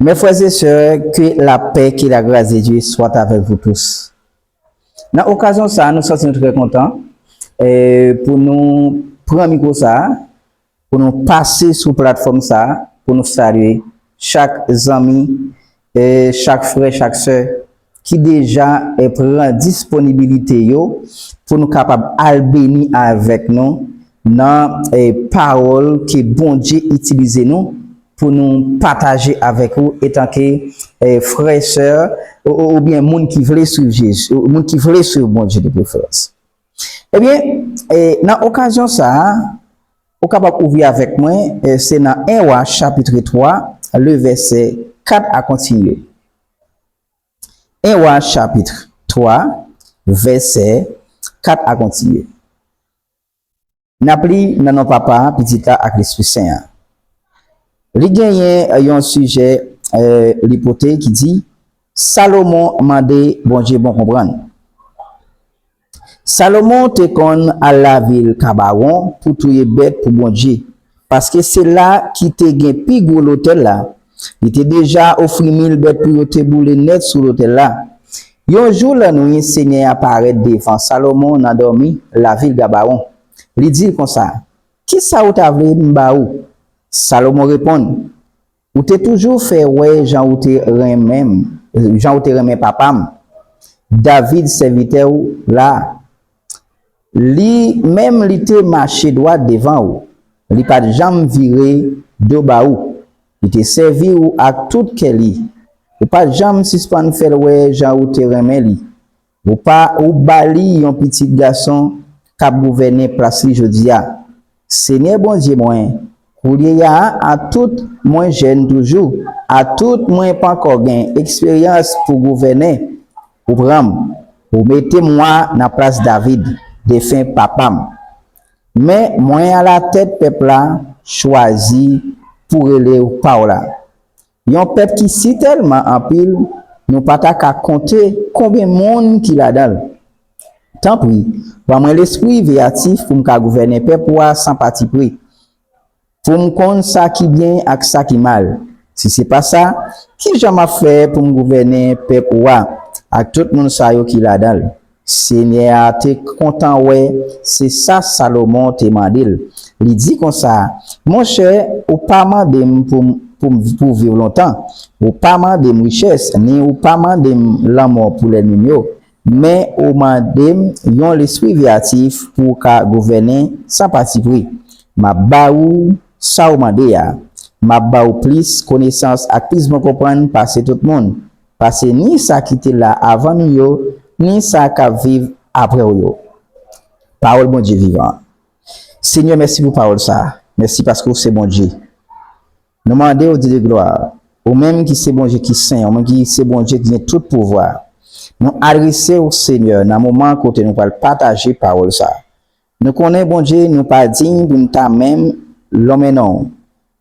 Mes frères et sœurs, que la paix, que la grâce de Dieu soit avec vous tous. Nan okazyon sa a, nou santi nou trè kontan pou nou pran mikwo sa a, pou nou pase sou platfòm sa a, pou nou salye chak zanmi, chak frè, chak sè ki deja pran disponibilite yo pou nou kapab al beni avèk nou nan pawòl ke Bondye itilize nou pou nou pataje avèk ou etanke frè, sè oubyen moun ki vle swiv Jezi, moun ki vle swiv Bondye de preferans. Ebyen, nan okazyon sa a, ou kapab ouvri avèk mwen, se nan 1 Wa chapitre 3, le vèsè 4 a kontinye. 1 Wa chapit 3 vèsè 4 a kontinye. N ap li nan non Papa a, Pitit la ak Lespri Sen an. Li genyen yon sijè li pote ki di, Salomon mande Bondye bon konprann. Salomon te konn al lavil Kabawon pou touye bèt pou Bondye, paske se la ki te gen pi gwo lotèl la. Li te deja ofri mil bèt pou yo te boule nèt sou lotèl la. Yon jou lannwi, Senyè a parèt devan Salomon nan dòmi lavil Gabawon. Li di l konsa, Kisa ou ta vle m ba ou? Salomon reponn, Ou te toujou fè wè jan ou te renmen m, jan ou te renmen papa m, David, sèvitè ou la. Li menm li te mache dwat devan ou, li pa t janm vire do ba ou, li te sèvi ou ak tout kè li, ou pa t janm sispann fè l wè jan ou te renmen li, Ou pa ou ba li yon pitit gason k ap gouvènen plas li jodi a. Senyè Bondye mwen, koulye a, atout mwen jèn toujou, atout mwen pankò gen eksperyans pou gouvènen, ou pran m, ou mete m wa nan plas David, defen papa m. Men, mwen alatèt pèp la, chwazi pou rele w pa w la. Yon pèp ki si tèlman anpil nou pa ta ka konte konben moun ki ladan l. Tanpri, ban mwen lespri veyatif pou m ka gouvènen pèp ou a san patipri, pou m konn sa ki byen ak sa ki mal. Si se pa sa, ki jan m ap fè pou m gouvènen pèp ou a ak tout moun sa yo ki ladan l? Senyè a te kontan wè se sa Salomon te mande l, li di konsa, Monchè, ou pa mande m pou m pou viv lontan, ou pa mande m richès, ni ou pa mande m lanmò pou lènmi m yo, men ou mande m yon lespri veyatif pou w ka gouvènen san patipri. M ap ba ou sa ou mande a. M ap ba ou plis konesans ak plis bon konprann pase tout moun. Pase ni sa ki te la avan nou yo, ni sa k ap viv apre w yo. Pawòl Bondye vivan an. Senyè mèsi pou pawòl sa a, mèsi paske ou se Bondye. Nou mande ou Dede glwa, ou menm ki se Bondye ki sen, ou menm ki se Bondye ki gen tout pouvwa, nou adrese ou Senyè nan moman kote nou pral pataje pawòl sa a. Nou konnen Bondye nou pa diy pou n ta menm lonmen non w,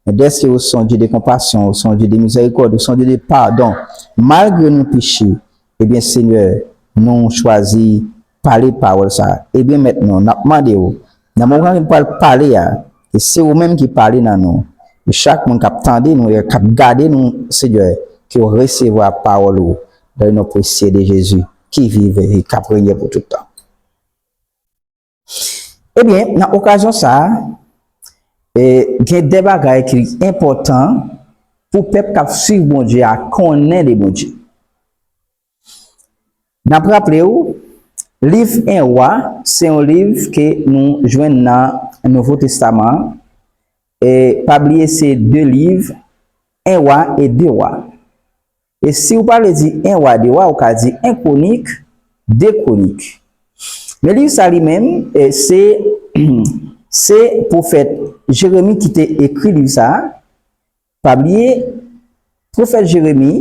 men dèske ou son Dye de konpasyon, ou son Dye de mizèrikòd, ou son Dye de padon, malgre nou peche, ebyen Senyè, nou chwazi pale pawòl sa. Ebyen Mèt nou, n ap mande w, nan moman nou pral pale a, ke se ou menm ki pale nan nou, e chak moun k ap tande nou e k ap gade nou, Senyè, ke yo resevwa pawòl ou, nan non presye de Jezi, ki viv e k ap renye pou tout tan. Ebyen, nan okazyon sa a, gen de bagay ki enpòtan pou pèp k ap suiv Bondye a konnen de Bondye. N ap raple ou, liv 1 Wa se yon liv ke nou jwenn nan Nouvo Testaman an, e pa bliye se de liv 1 Wa e 2 Wa. E si ou pa vle di 1 wa 2 wa, ou ka di 1 kwonik, 2 kwonik. Men liv sa li menm, se se pwofèt Jeremi ki te ekri liv sa a. Pa bliye, pwofèt Jeremi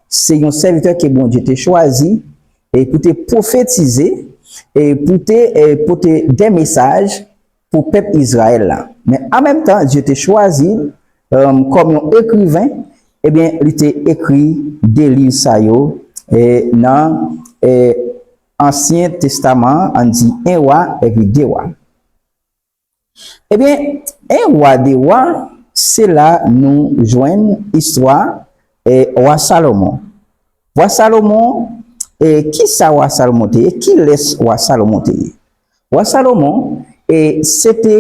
se yon sèvitè ke Bondye te chwazi pou te pwofetize, pou te pote de mesaj pou pèp Izrayèl la. Men an menm tan, Dye te chwazi l kòm yon ekriven, ebyen li te ekri de liv sa yo nan Ansyen Testaman an, ann di 1 Wa epi 2 Wa. Ebyen, 1 Wa, 2 Wa, se la nou jwenn istwa Wa Salomon. Wa Salomon, kisa Wa Salomon te ye? Kilès Wa Salomon te ye? Wa Salomon se te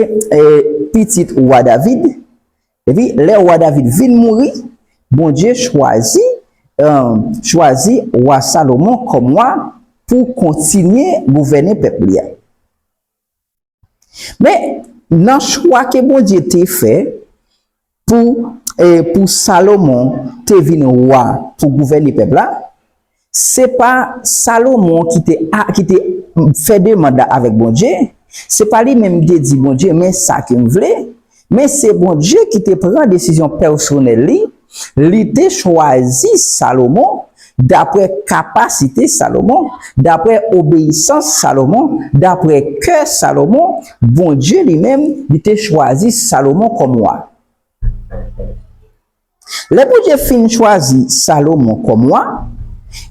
pitit wa David, epi lè wa David vin mouri, Bondye chwazi chwazi wa Salomon kòm wa pou kontinye gouvène pèp li a. Men, nan chwa ke Bondye te fè, Pou pou Salomon te vin wa pou gouvène pèp la, se pa Salomon ki te ki te fè demand la avèk Bondye, se pa li menm ki te di Bondye men sa ke m vle, men se Bondye ki te pran desizyon pèsonèl li, li te chwazi Salomon Dapre kapasite Salomon, dapre obeyisans Salomon, dapre kè Salomon, Bondye li menm, li te chwazi Salomon kòm wa. Lè Bondye fin chwazi Salomon kòm wa,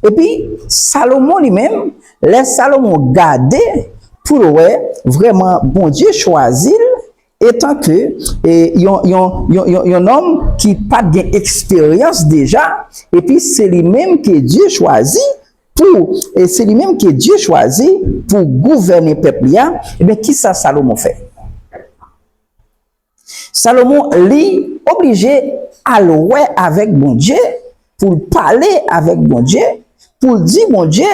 epi Salomon li menm, lè Salomon gade pou l wè vrèman Bondye chwazi l, Etanke yon nonm ki pa t gen eksperyans deja, epi se li menm ke Dye chwazi pou gouvènen pèp li a, enben, ki sa Salomon fè? Salomon li oblije al wè avèk Bondye pou l pale avèk Bondye, pou l di Bondye,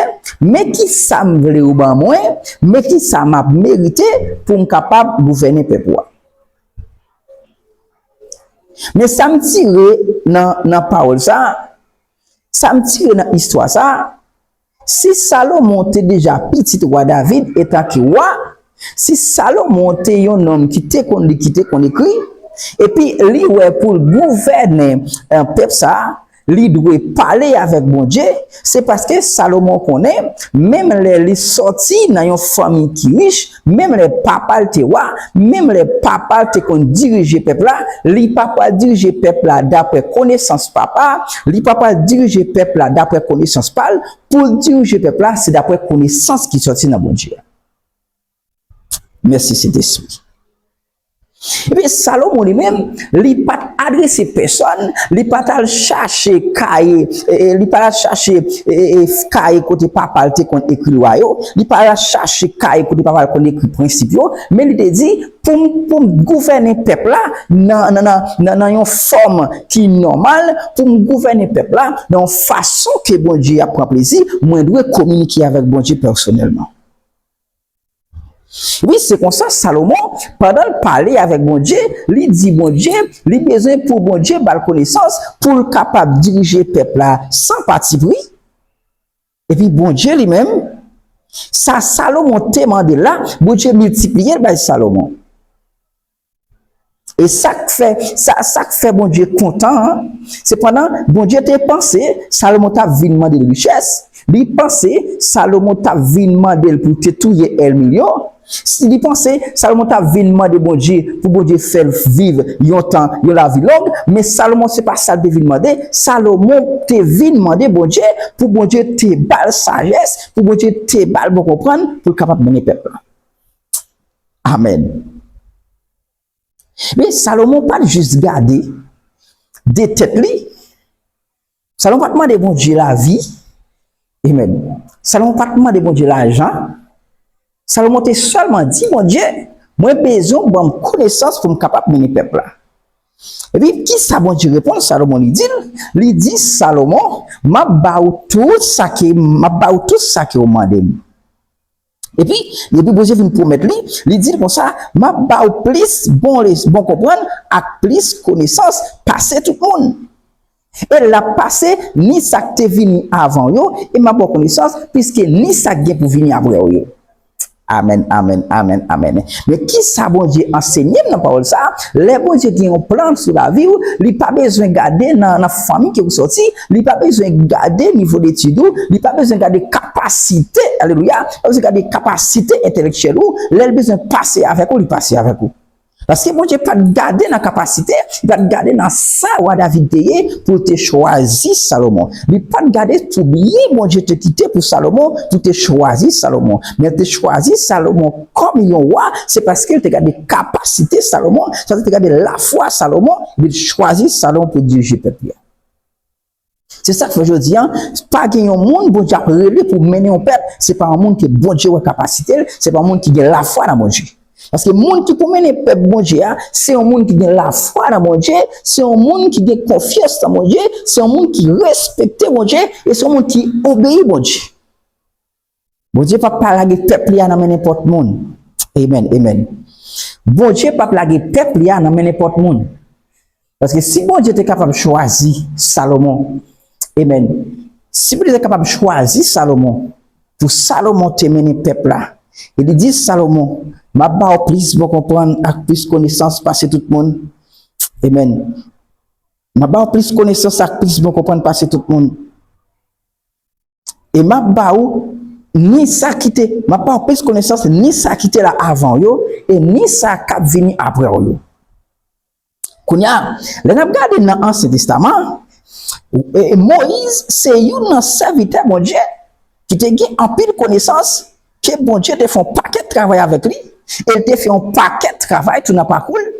men ki sa m vle ou ban mwen, men ki sa m ap merite pou m kapab gouvènen pèp ou a. Men sa m tire nan pawòl sa, sa m tire nan istwa sa, Si Salomon te deja pitit wa David etan ki wa, si Salomon te yon nonm ki te konn li, ki te konn ekri, epi li wè pou l gouvène pèp sa a, li dwe pale avèk Bondye, se paske Salomon konnen, menm lè li sòti nan yon fanmi ki rich, Menm lè papa l te wa, menm lè papa l te konn dirije pèp la, li pa pral dirije pèp la dapre konesans papa a, li pa pral dirije pèp la dapre konesans pa l, pou l dirije pèp la se dapre konesans ki sòti nan Bondye a. Mèsi Sentespri. Epi Salomon li menm, li pa t adrese pèsòn, li pa t al chache kaye, li pa t al chache kaye kote papa l te konn ekri lwa yo, li pa t al chache kaye kote papa l konn ekri prensip yo, men li te di, Pou m gouvènen pèp la nan yon fòm ki nòmal, pou m gouvènen pèp la nan yon fason ke Bondye ap pran plezi, mwen dwe kominike avèk Bondye pèsonèlman. Wi, se konsa, Salomon, pandan l pale avèk Bondye, li di Bondye li bezwen pou Bondye ba l konesans pou l kapab dirije pèp la san patipri. Epi Bondye li menm, sa Salomon te mande l la, Bondye miltipliye l bay Salomon. E sa k fè, sa, sa k fè Bondye kontan an, se pandan Bondye te panse Salomon t ap vin mande l richès, li panse Salomon t ap vin mande l pou te touye ènmi l yo, li panse Salomon t ap vin mande Bondye pou Bondye fè l viv yon tan, yon lavi long, men Salomon se pa sa l te vin mande, Salomon te vin mande Bondye pou Bondye te ba l sajès, pou Bondye te ba l bon konprann pou l kapab mennen pèp la. Amen. Men, Salomon pa t jis gade de tèt li. Salomon pa t mande Bondye lavi. Amen. Salomon pa t mande Bondye lajan. Salomon te sèlman di Bondye, mwen bezwen ou ban m konesans pou m kapab mennen pèp la. Epi, ki sa Bondye reponn Salomon li di l? Li di Salomon, m ap ba ou tout sa ke, m ap ba ou tout sa ke ou mande m. Epi, depi Bondye fin pwomèt li, li di l konsa, M ap ba ou plis bon konprann ak plis konesans pase tout moun. E l ap pase ni sa k te vini avan w yo, e m ap ba w konesans plis ke ni sa k gen pou vini apre w yo. Amèn, amèn, amèn, amèn. Men kisa Bondye ansenye m nan pawòl sa, lè Bondye gen yon plan sou lavi w, li pa bezwen gade nan fanmi ke ou sòti, li pa bezwen gade nivo detid ou, li pa bezwen gade kapasite, alelouya, li pa bezwen gade kapasite entelektyèl ou, lè l bezwen pase avèk ou, li pase avèk ou. Paske Bondye pa t gade nan kapasite, li pa t gade nan sa wa David te ye pou l te chwazi Salomon. Li pa t gade sou byen Bondye te kite pou Salomon pou te chwazi Salomon. Men l te chwazi Salomon. Kòm yon wa, se paske l te gade kapasite Salomon, sa vle di l te gade lafwa Salomon, epi l chwazi Salomon pou l dirije pèp li a. Se sa k fè jodi a, pa gen yon moun Bondye ap rele pou mennen yon pèp, se pa yon moun ke Bondye wè kapasite l, se pa yon moun ki gen lafwa nan Bondye. Paske moun ki pou mennen pèp Bondye a, se yon moun ki gen lafwa nan Bondye, se yon moun ki gen konfyans nan Bondye, se yon moun ki respekte Bondye, e se yon moun ki obeyi Bondye. Bondye pap pa lage pèp li a nan men nenpòt moun. Amen, amen. Bondye pap lage pèp li a nan men nenpòt moun. Paske si Bondye te kapab chwazi Salomon, amen, si Bondye te kapab chwazi Salomon, pou Salomon te mennen pèp la, e li di Salomon, map ba ou plis bon konprann ak plis konesans pase tout moun, amen, map ba ou plis konesans ak plis bon konprann pase tout moun, e m ap ba ou ni sa ki te, m ap ba ou plis konesans ni sa ki te la avan w yo, e ni sa k ap vini apre w yo. Kounye a, lè n ap gade nan Ansyen Testaman an, Moyiz se youn nan sèvitè Bondye ki te gen anpil konesans, ke Bondye te fè yon pakèt travay avèk li, e l te fè yon pakèt travay tou nan pakou l,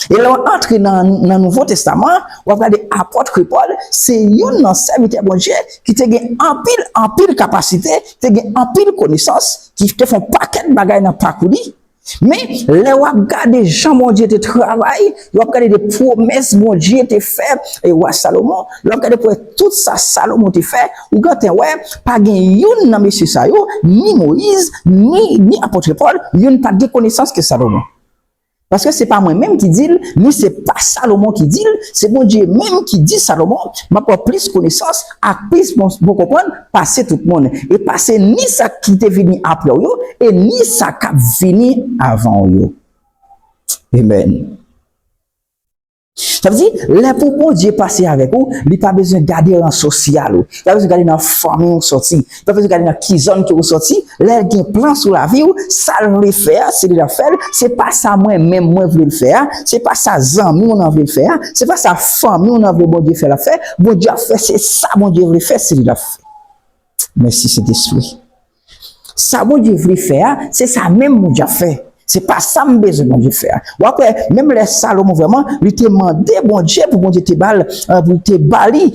E lè w antre nan Nouvo Testaman an, w ap gade Apòtre Pòl se youn nan sèvitè Bondye ki te gen anpil, anpil kapasite, te gen anpil konesans, ki te fè yon pakèt bagay nan pakou li. Men, lè w ap gade jan Bondye te travay, lè w ap gade de pwomès Bondye te fè wa Salomon, lè w ap gade pwomès tout sa Salomon te fè, ou gentan wè pa gen youn nan mesye sa yo, ni Moyiz, ni Apòtre Pòl, youn pa t gen konesans ke Salomon. Paske se pa mwen menm ki di l, ni se pa Salomon ki di l, se Bondye menm ki di Salomon, M ap ba w plis konesans ak plis bon konprann pase tout moun, e pase ni sa ki te vini apre w yo, e ni sa k ap vini avan w yo. Amen. Sa vle di, lè pou Bondye pase avèk ou, li pa bezwen gade ran sosyal ou, li pa bezwen gade nan fanmi ou sòti, li pa bezwen gade nan ki zòn ke ou sòti, lè l gen plan sou lavi ou, sa l vle fè a, se li l ap fè l, se pa sa mwen menm mwen vle l fè a, se pa sa zanmi w nan vle l fè a, se pa sa fanmi w nan vle Bondye fè l ap fè, Bondye ap fè se sa Bondye vle fè, se li l ap fè. Mèsi Sentespri. Sa Bondye vle fè a, se sa menm Bondye ap fè. Se pa sa m bezwen Bondye fè a. W ap wè, menm lè Salomon vrèman, li te mande Bondye pou Bondye te ba l, pou l te ba li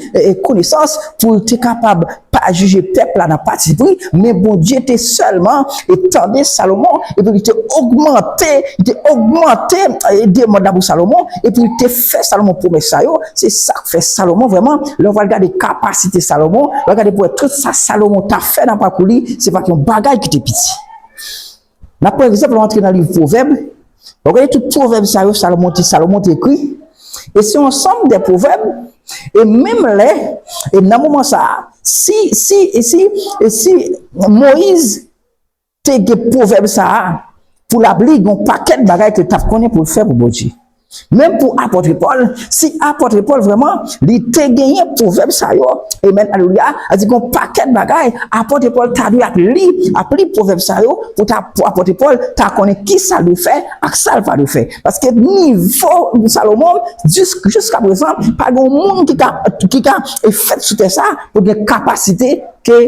konesans, pou l te kapab pa jije pèp la nan patipri, men Bondye te sèlman tande Salomon, epi li te ogmante, li te ogmante demann nan pou Salomon, epi li te fè Salomon pwomès sa yo. Se sa k fè Salomon vrèman, lè w pral gade kapasite Salomon, w ap gade pou w wè tout sa Salomon ta fè nan pakou li, se pa t yon bagay ki te piti. N ap pran egzanp lè w antre nan liv Pwovèb, w ap gade tout pwovèb sa yo Salomon te Salomon te ekri, e se yon ansanm de pwovèb, e menm lè, e nan moman sa a, si, si, si, si Moyiz. Te gen pwovèb sa a, Pou labli, gen yon pakèt bagay ke l t ap konnen pou l fè pou Bondye. Menm pou apòtre Pòl, si apòtre Pòl vrèman, li te genyen pwovèb sa yo, amen, alelouya, sa vle di gen yon pakèt bagay apòtre Pòl ta dwe ap li, ap li pwovèb sa yo pou ta, pou apòtre Pòl ta konnen ki sa l dwe fè ak sa l pa dwe fè. Paske nivo Salomon, jis, jiskaprezan, pa gen yon moun ki ka, ki ka fèt sou tè sa a pou gen kapasite ke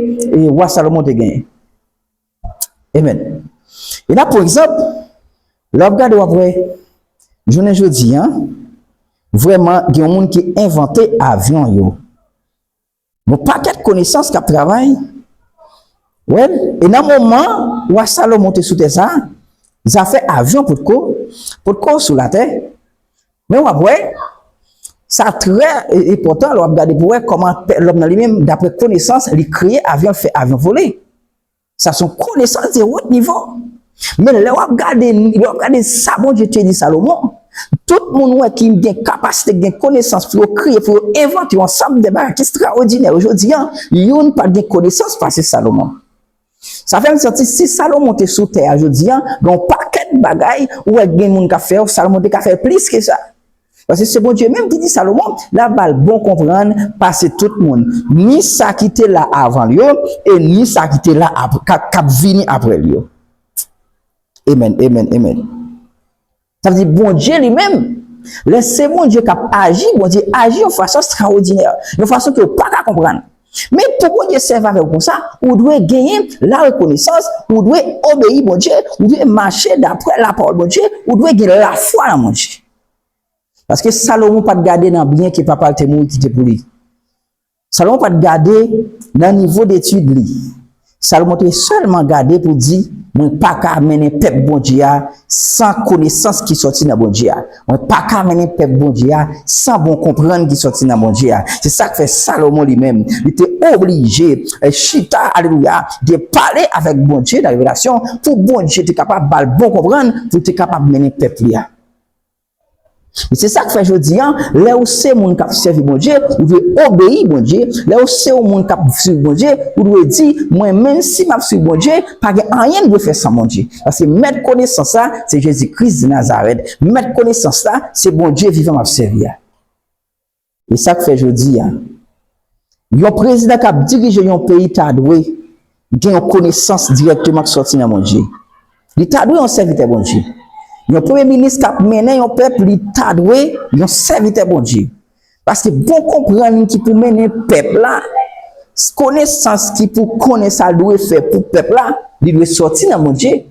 wa Salomon te genyen. Amen. E nap pran egzanp, lè wap gade wap wè jounen jodi an, vrèman gen yon moun ki envante avyon yo. Yon pakèt konesans kap travay, wèl, e nan moman wa Salomon te sou tè sa, zafè avyon potko, potko sou latè, Men wap wè, sa trè enpòtan lè wap gade pou wè kòman pè lòm nan li menm daprè konesans li kreye avyon l fè avyon vole. Sa son konesans de wot nivo. Men lè wap gade lè wap gade sa Bondye te di Salomon, tout moun wè ki gen kapasite ki gen konesans pou yo kreye pou yo envante yon ansanm de bagay ki estraòdinè ojodi an, youn pa gen konesans pase Salomon. Sa fè m santi si Salomon te sou tè a jodi a, gen yon pakèt bagay ou wè gen moun k ap fè yo, Salomon te ka fè plis ke sa. Paske se Bondye menm ki di Salomon l ap ba l bon konprann pase tout moun, ni sa ki te la avan l yo e ni sa ki te la k ap vini apre l yo. Amen, amen, amen. Sa vle di Bondye li menm, lè se Bondye k ap aji, Bondye aji yon fason estrawodinè, yon fason ke ou pa ka konprann. Men pou Bondye sèvi avè ou konsa, ou dwe genyen larekonesans, ou dwe obeyi Bondye, ou dwe mache daprè lapawòl Bondye, ou dwe gen lafwa nan Bondye. Paske Salomon pa t gade nan byen ke papa l te mouri kite pou li. Salomon pa t gade nan nivo detid li. Salomon te sèlman gade pou di, Mwen pa ka mennen pèp Bondye a san konesans ki soti nan Bondye a. Mwen pa ka mennen pèp Bondye a san bon konprann ki soti nan Bondye a. Se sa k fè Salomon li menm, li te oblije chita, alelouya, li te pale avèk Bondye nan revelasyon pou Bondye te kapab ba l bon konprann pou l te kapab mennen pèp li a. Se sa k fè jodi a, lè ou se moun k ap sèvi Bondye, ou dwe obeyi Bondye. Lè ou se yon moun k ap suiv Bondye, ou dwe di, 'Mwen menm, si m ap suiv Bondye, pa gen anyen m dwe fè san Bondye. Paske Mèt konesans la se Jezi Kris Nazarèt. Mèt konesans la se Bondye vivan m ap sèvi a. E sa k fè jodi a, yon prezidan k ap dirije yon peyi ta dwe gen yon konesans dirèkteman k sòti nan Bondye. Li ta dwe yon sèvitè Bondye. Yon premye minis k ap mennen yon pèp li ta dwe yon sèvitè Bondye. Paske bon konprann ki pou mennen pèp la, konesans ki pou konnen sa l dwe fè pou pèp la, li dwe sòti nan Bondye.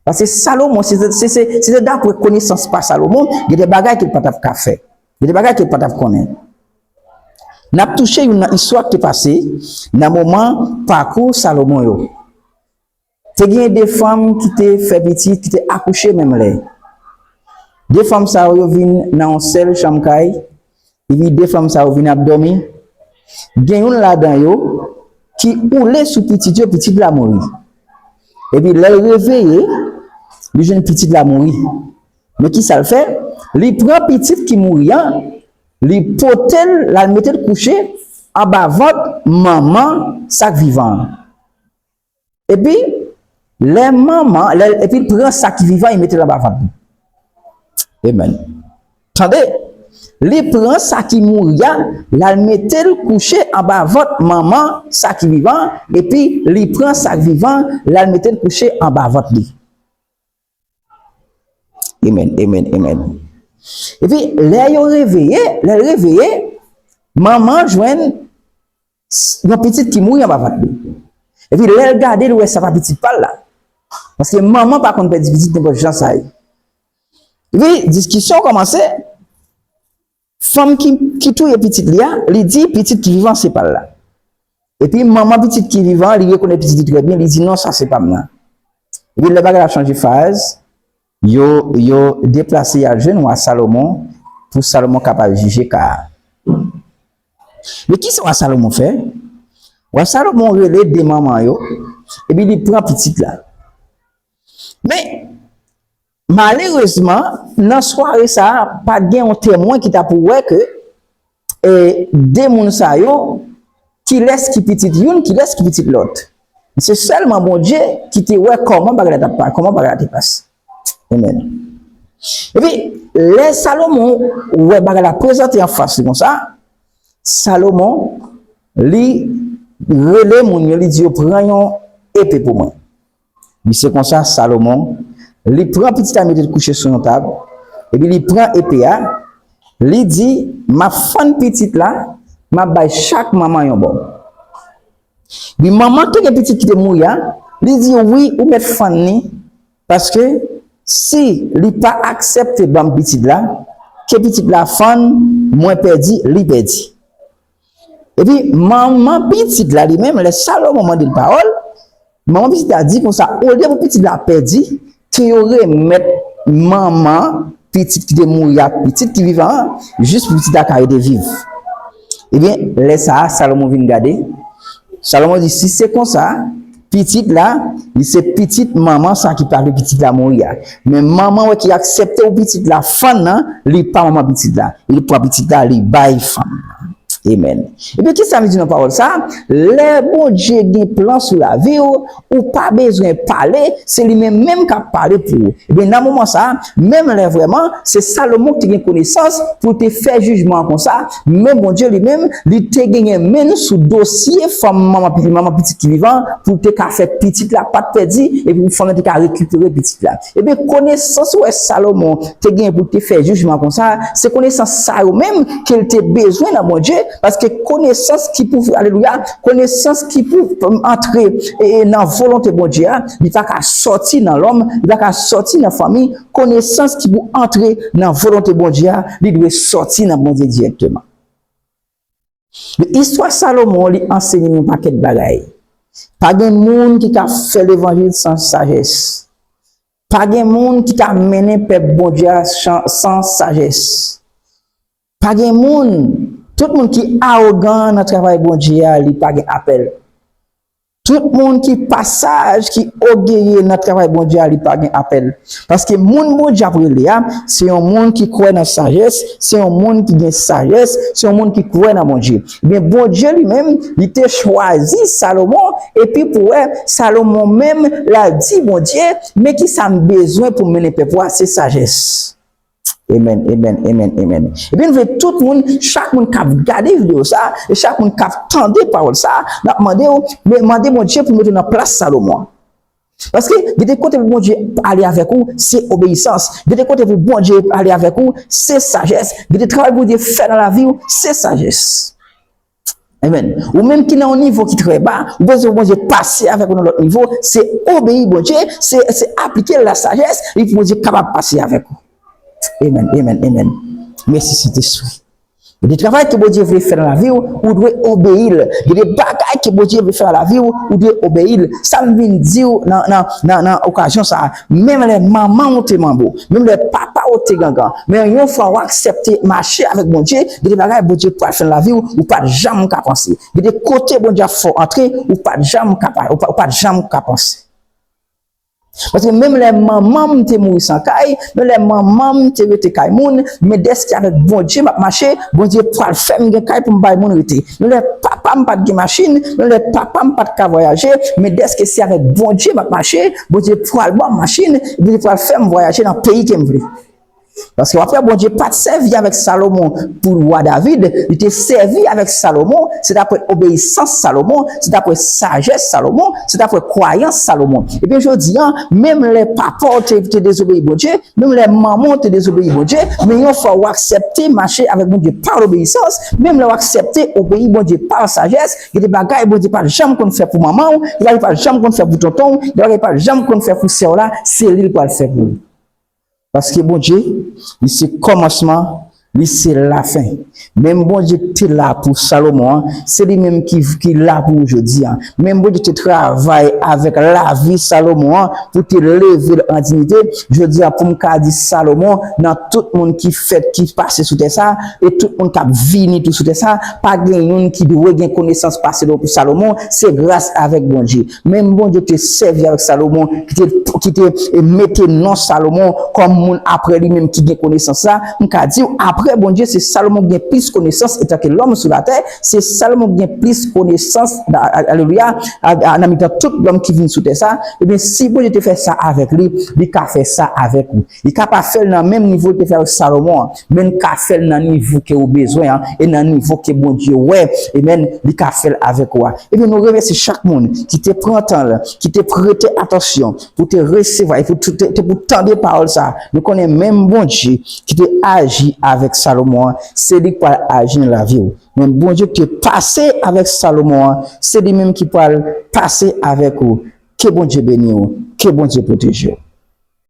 Paske Salomon, si se te dapre konesans pa Salomon, gen de bagay ke l pa t ap ka fè. Gen de bagay ke pa tap konnen. Nap touche youn nan istwa ki te pase nan moman pakou Salomon yo. Te gen de fanm ki te fè pitit, ki te akouche menm lè. De fanm sa yo yo vin nan yon sèl chanm kay, epi de fanm sa yo vin ap dòmi. Gen youn ladan yo ki oule sou pitit yo, pitit la mouri. Epi lèl reveye, li jwenn pitit la mouri. Men ki sa l fè, li pran pitit ki mouri an, li pote l, l al mete l kouche anba vant manman sa k vivan an. Epi, lè manman, lè l, epi l pran sa ki vivan an, li mete l anba vant li. Amen. Tande, li pran sa ki mouri an, l al mete l kouche anba vant manman sa ki vivan an, epi li pran sa k vivan an, l al mete l kouche anba vant li. Amen, amen, amen. E pi, lè yo reveye, lè l reveye, manman jwenn yon pitit ki mouri anba vant li. E pi, lè l gade, l wè se pa pitit pa l la. Paske manman pa konn pèdi pitit nenpòt jan sa ye. E pi, diskisyon kòmanse. Fanm ki touye pitit li a, li di pitit ki vivan se pa l la. Epi manman pitit ki vivan an, li rekonèt pitit li trè byen, li di non sa se pa m nan. Epi lè bagay la chanje faz, yo deplase y al jwenn wa Salomon pou Salomon kapab jije ka a. Men kisa wa Salomon fè? Wa Salomon rele de manman yo, epi li pran pitit la. Men, Malerezman, nan sware sa a, pa t gen yon temwen ki ta pou wè ke e 2 moun sa yo, kilès ki pitit youn, kilès ki pitit lòt. Se sèlman Bondye ki te wè kòman bagay la t ap pa, kòman bagay la te pase. Amen. Epi, lè Salomon wè bagay la prezante anfas li konsa, Salomon, li rele moun yo, li di yo, pran yon epe pou mwen. Li se konsa, Salomon, li pran pitit a mete l kouche sou yon tab, epi li pran epe a, li di, M ap fann pitit la, m ap bay chak manman yon bò. Wi, manman ki gen pitit ki te mouri a, li di, Wi, ou mèt fann li, paske, si li pa aksepte ban m pitit la, ke pitit la fann, mwen pèdi, li pèdi. Epi, manman pitit la li menm, lè Salomon mande l pawòl, manman pitit la di konsa, Olye pou pitit la pèdi, ke yo remèt manman pitit ki te mouri a ak pitit ki vivan an, jis pou pitit la ka rete viv. Ebyen, lè sa a, Salomon vin gade, Salomon di, Si se konsa, Pitit la, li se pitit manman sa ki pa vle pitit la mouri a. Men manman wè ki aksepte pou pitit la fann nan, li pa manman pitit la. E li pran pitit la, li bay fanm nan. Amen. Ebyen kisa nou di nan pawòl sa? Lè Bondye gen plan sou lavi w, ou pa bezwen pale, se li menm menm kap pale pou ou. Ebyen nan moman sa, Menm lè vrèman, se Salomon ki te gen konesans pou l te fè jijman an konsa, men Bondye li menm, li te genyen men l sou dosye fanm manman pitit ki vivan an pou l te ka fè pitit la pa t pèdi epi pou fanm nan te ka rekipere pitit la. Ebyen, konesans ou wè Salomon te genyen pou l te fè jijman an konsa a, se konesans sa yo menm ke l te bezwen nan Bondye, paske konesans ki pou, alelouya, Konesans ki pou antre nan volonte Bondye a, li pa ka sòti nan lòm, li pa ka sòti nan fanmi, konesans ki pou antre nan volonte Bondye a, li dwe sòti nan Bondye dirèkteman. Istwa Salomon li ansenye nou yon pakèt bagay. Pa gen moun ki ka fè levanjil san sajès. Pa gen moun ki ka mennen pèp Bondye a san sajès. Pa gen moun, tout moun ki arogan nan travay Bondye a li pa gen apèl. Tout moun ki pa saj, ki ogeye nan travay Bondye a li pa gen apèl. Paske moun Bondye ap rele a, se yon moun ki kwè nan sajès, se yon moun ki gen sajès, se yon moun ki kwè nan Bondye. Ebyen Bondye li menm, li te chwazi Salomon, epi pou wè, Salomon menm, la di Bondye, men ki sa m bezwen pou m mennen pèp ou a, se sajès. Amen amen amen amen ebyen nou vle tout moun chak moun kap gade video sa e chak moun kap tande pawòl sa nap mande ou mande Bondye pou mete nan plas Salomon paske gen de kote pou Bondye ale avèk ou se obeyisans gen de kote pou Bondye ale avèk ou se sajès gen de travay pou Bondye fè nan laviw se sajès. Amen. Ou menm ki nan yon nivo ki trè ba, ou bezwen pou Bondye pase avèk ou nan lòt nivo, se obeyi Bondye, se se aplike la sajès, li pou Bondye kapab pase avèk ou. Amen, amen, amen. Mèsi Sentespri. Gen de travay ke Bondye vle fè nan lavi ou, ou dwe obeyi l. Gen de bagay ke Bondye vle fè nan lavi ou, ou dwe obeyi l. Sa m vin di ou nan nan nan okazyon sa a. Menm lè manman ou te manbo, menm lè papa ou te gangan, men yon fwa ou aksepte mache avèk Bondye, gen de bagay Bondye pral fè nan lavi ou, ou pat janm ka panse. Gen de kote Bondye ap fè w antre, ou pat janm ka pa, ou pat janm ka panse. Paske menm lè manman m te mouri san kay, menm lè manman m te rete kay moun, men dèske avèk Bondye m ap mache, Bondye pral fè m gen kay pou m bay moun rete. Menm lè papa m pat gen machin, menm lè papa m pat ka vwayaje, men dèske se avèk Bondye m ap mache, Bondye pral ban m machin, epi li pral fè m vwayaje nan peyi ke m vle. Paske w ap wè Bondye pa t sèvi avèk Salomon pou lwa David, li te sèvi avèk Salomon, se t apre obeyisans Salomon, se t apre sajès Salomon, se t apre kwayans Salomon. Ebyen jodi a, menm lè papa w te te dezobeyi Bondye, menm lè manman w te dezobeyi Bondye, men yon fwa ou aksepte mache avèk Bondye pa lobeyisans, menm lè ou aksepte obeyi Bondye pa sajès, Gen de bagay Bondye pa janm konn fè pou manman w, gen bagay li pa janm konn fè pou tonton w, gen bagay li pa janm konn fè pou sè w la, se li l pral fè pou ou. Paske Bondye, li se kòmansman, li se lafen. Menm Bondye ki te la pou Salomon an, se li menm ki la pou ou jodi a. Menm Bondye ki te travay avèk lavi Salomon an pou te leve l an diyite, jodi a pou m ka di Salomon nan tout moun ki fèt, ki pase sou tè sa a, e tout moun k ap vini tou sou tè sa a, Pa gen youn ki dwe gen konesans pase non pou Salomon, se gras avèk Bondye. Menm Bondye te sèvi avèk Salomon ki te mete non Salomon kòm moun apre li menm ki gen konesans la, m ka di w apre Bondye se Salomon ki gen plis konesans etanke lòm sou latè, se Salomon ki gen plis konesans, alelouya, nan mitan tout lòm ki vin sou tè sa, ebyen si Bondye te fè sa avèk li, li ka fè sa avèk ou. Li ka pa fèl nan menm nivo li te fè avèk Salomon an, men li ka fèl nan nivo ke ou bezwen an, e nan nivo ke Bondye wè, amen, li ka fèl avèk ou a. Ebyen nou remèsye chak moun ki te pran tan l, ki te prete atansyon pou te resevwa e pou te pou tande pawòl sa a. Nou konnen menm Bondye ki te aji avèk Salomon an, se li k pral aji nan lavi ou. Menm Bondye ki te pase avèk Salomon an, se li menm ki pral pase avèk ou. Ke Bondye beni ou, ke Bondye pwoteje ou.